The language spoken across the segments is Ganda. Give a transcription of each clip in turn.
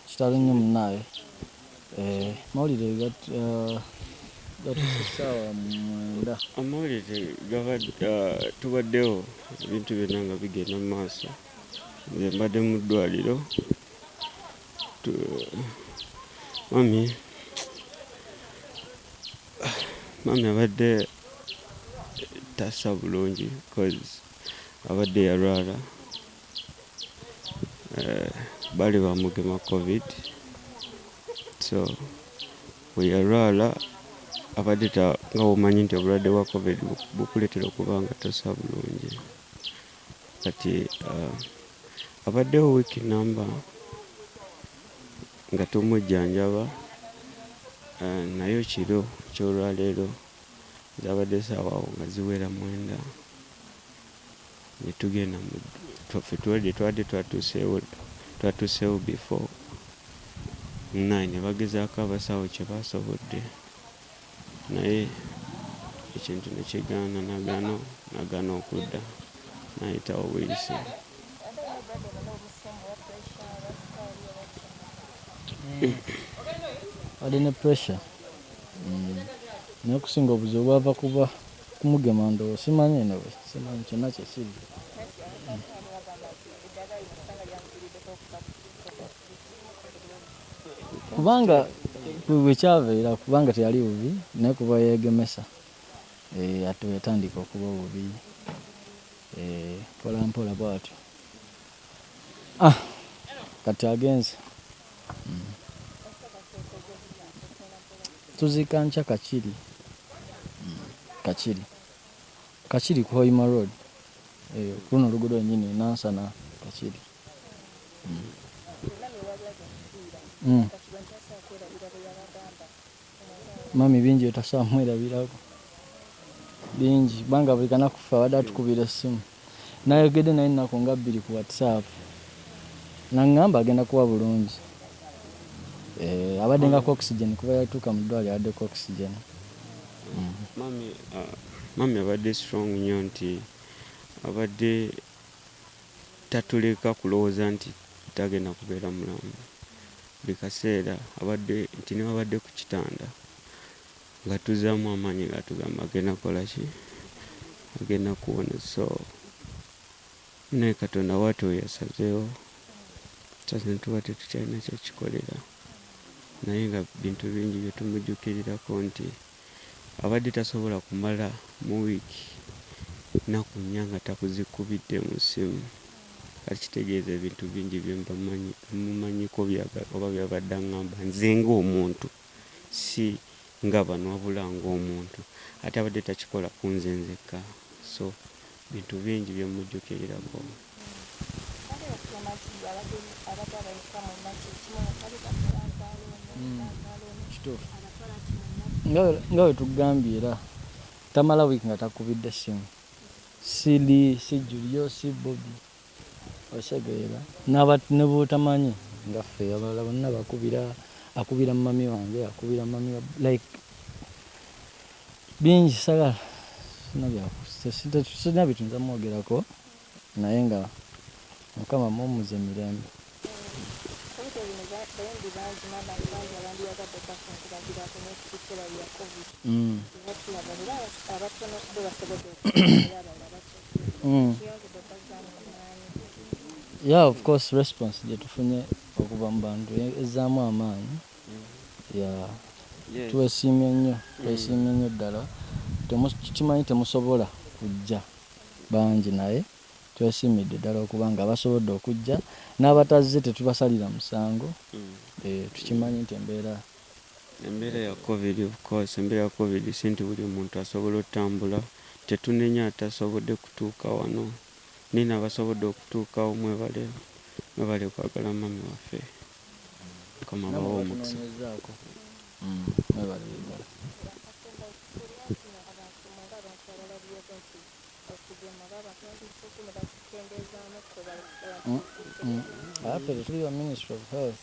Kitalo nnyo munnaaye. Amawulire gatuuse ssaawa mwenda. Amawulire tubaddewo ebintu byonna nga bigenda mu maaso. Nze mbadde mu ddwaaliro mami mami abadde tassa bulungi abadde yalwala. eh, bali bamugema covid so weyalwala abadde ta nga womanyi nti obulwadde bwa covid bukuletera okuba nga tosa bulungi kati uh, abaddewo wiiki namba nga tumujjanjaba uh, naye kiro kyolwaleero zabadde saawawo nga ziwera mwenda Netugenda mu ffe twade twade twatusewo twatusewo before nine nebagezako abasawo kyebasobodde naye ekintu nekigana nagana nagana okudda nayitawo buyisi. Obadde ne pressure? Naye okusinga obuzibu bwava kuba. Kumugema ndowo simanyi anyway simanyi kyona kyekiri. Kubanga bwekyaveera kubanga teyali bubi naye kuba yegemesa eh, ati weyatandika okuba obubi eh, mpolampola bwatyo ah, kati agenze Tuziika nkya Kakiri. Kakiri. Kakiri ku Hoima Road. Eh, kuno oluguudo lwennyini Nansana Kakiri. Mm. Mm. Mummy bingi byetasubwa mwerabirako bingi kubanga buli kanaku ffe abadde atukubira essimu nayogedde naye ennaku nga bbiri ku whatsapp nangamba agenda kuba bulungi eeh abadde nga coxygen kuva yatuuka mu ddwaliro abadde coxygen Mummy mummy abadde strong nnyo nti abadde tatuleka kulowooza nti tagenda kubeera mulamu. Buli kaseera abadde nti newabadde ku kitanda ng'atuzzaamu amaanyi ng'atugamba agenda kukola ki? Agenda kuwona so naye Katonda bwati oyo yasazeewo tusaze tuba tetukyalina kyakikolera naye nga bintu bingi bye tumujukirirako nti abadde tasobola kumala mu week naku nnya nga takuzikubidde mu ssimu kati kitegeeza ebintu bingi byemumanyiko oba byabadde angamba nze nga omuntu si nga bano wabula nga omuntu ate abadde takikola kunze nzekka so Bintu bingi bye mmujjukirirako. Kituufu. Nga bwe tukugambye era, tamala wiiki nga takukubidde ssimu. Ssi Lee, ssi Julio, ssi Bobi. Okitegeera naba ne bwotamanyi nga ffe abalala bonna bakubira akubira mummy wange akubira mummy wa like bingi sagala sina byakusitalina bintu nja mwogerako naye nga mukama mumuze mirembe. Mm. yeah of course response gyetufunye okuva mu bantu e-, ezzaamu amaanyi yeah. yes. twesiimye nnyo mm. twesiimye nnyo ddala kimanyi temusobola kujja bangi naye Twesiimidde ddala okuba nga basobodde okujja, n'abatazze tetubasalira musango, tukimanyi nti embeera. Embeera ya Covid of course, embeera ya Covid si nti buli muntu asobola otambula, tetunenya atasobodde kutuuka wano naye n'abasobodde okutuukawo mwebale, mwebale kwagala mummy waffe, Mukama abawe omukisa. Namwe abatunonyezaako mwebale ddala. afe tetuli ba ministry of health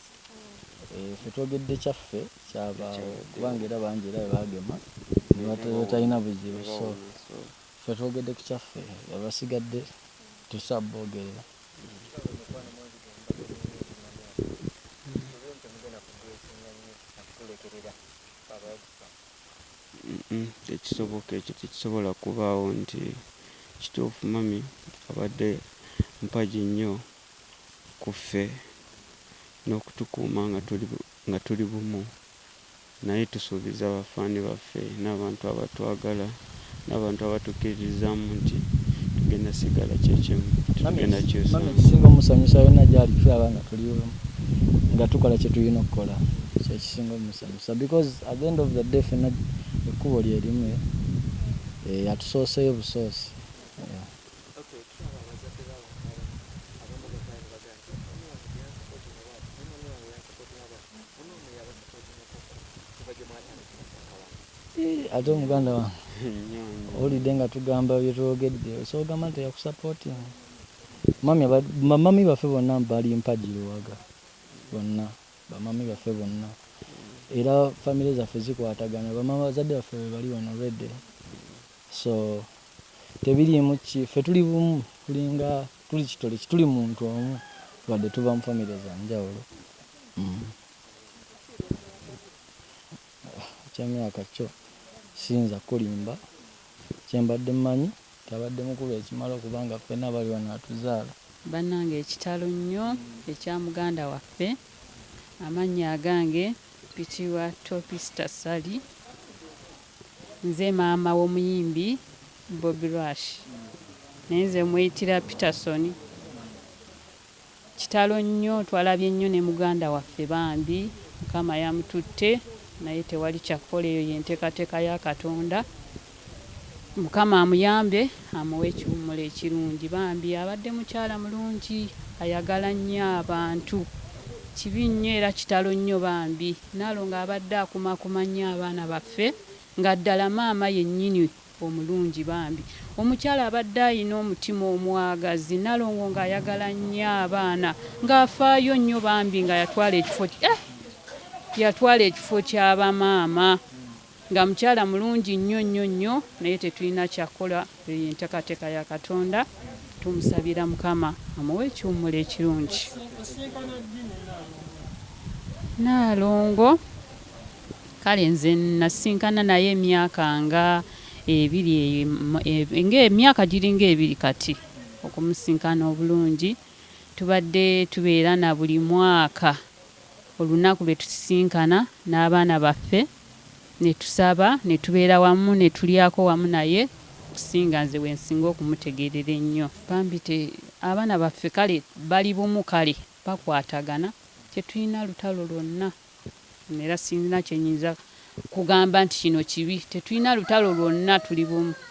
eh, fe twogedde kyaffe kyabaawo kubanga era bangi era bebagema nebatalina buzibu so fe twogedde ku kyaffe abasigadde tusabogerera Uhmm tekisoboka ekyo tekisobola kubaawo nti kituufu mummy abadde mpagi nnyo ku ffe n'okutukuuma nga tuli nga tuli bumu naye tusuubiza ba ffani baffe n'abantu abatwagala. n'abantu abatukkiririzaamu nti tugenda kusigala kye kimu, tetugenda kukyusamu. Mama ekisinga omusanyusa yonna gy'ali tulaba nga tuli wamu, nga tukola kye tulina okukola, kye kisinga omusanyusa because at the end of the day ffenna ekkubo lye limu, yatusooseyo busoosi. Ate omuganda wange owulidde nga tugamba byetwogedde osobola ogamba nti yakusapoting bamami baffe bonna bali mpagi luwaga bonna bamami baffe bonna era famire zaffe zikwatagana bamama bazadde baffe bebali wano rede so tebiriimu ki ffe tuli bumu tulinga tuli kitole kituli muntu omu wadde tuva mu famire zanjawulo mm. Ekya myaka kyo siyinza kukulimba. Kye mbadde mmanyi nti abadde mukulu ekimala okuba nga ffenna abali wano atuzaala. Bannange kitalo nnyo ekya muganda waffe. Amannya agange mpitibwa Topista Ssali. Nze maama w'omuyimbi Bobi Rush naye nze mweyitira Peterson. Kitalo nnyo twalabye nnyo ne muganda waffe bambi mukama yamututte naye tewali kyakukola eyo yentekateka ya katonda mukama amuyambe amuwe ekiwumulo ekirungi bambi abadde mukyala mulungi ayagala nnyo abantu kibi nnyo era kitalo nnyo bambi nalongo abadde akumakuma nnyo abaana baffe nga ddala maama yenyini omulungi bambi omukyala abadde ayina omutima omwagazi nalongo nga ayagala nyo abaana nga afaayo nyo bambi nga yatwala ekifo eh yatwala ekifo kya ba maama nga mukyala mulungi nyo nyo nyo naye tetuyina kyakukola eyo yentekateka ya katonda tumusabira mukama amuwe ekiwumulo ekirungi nalongo Kale nze nnasisinkana naye emyaka nga ebiri eyo em- nga emyaka giringa ebiri kati okumusisinkana obulungi. Tubadde tubeera na buli mwaka olunaku lwe tusisinkana n'abaana baffe ne tusaba ne tubeera wamu ne tulyako wamu naye okusinga nze we nsinga okumutegeerera ennyo. Bambi te, abaana baffe kale bali bumu kale bakwatagana tetulina lutalo lwonna. Era sirina kye nnyinza kugamba nti kino kibi. Tetulina lutalo lwonna, tuli bumu.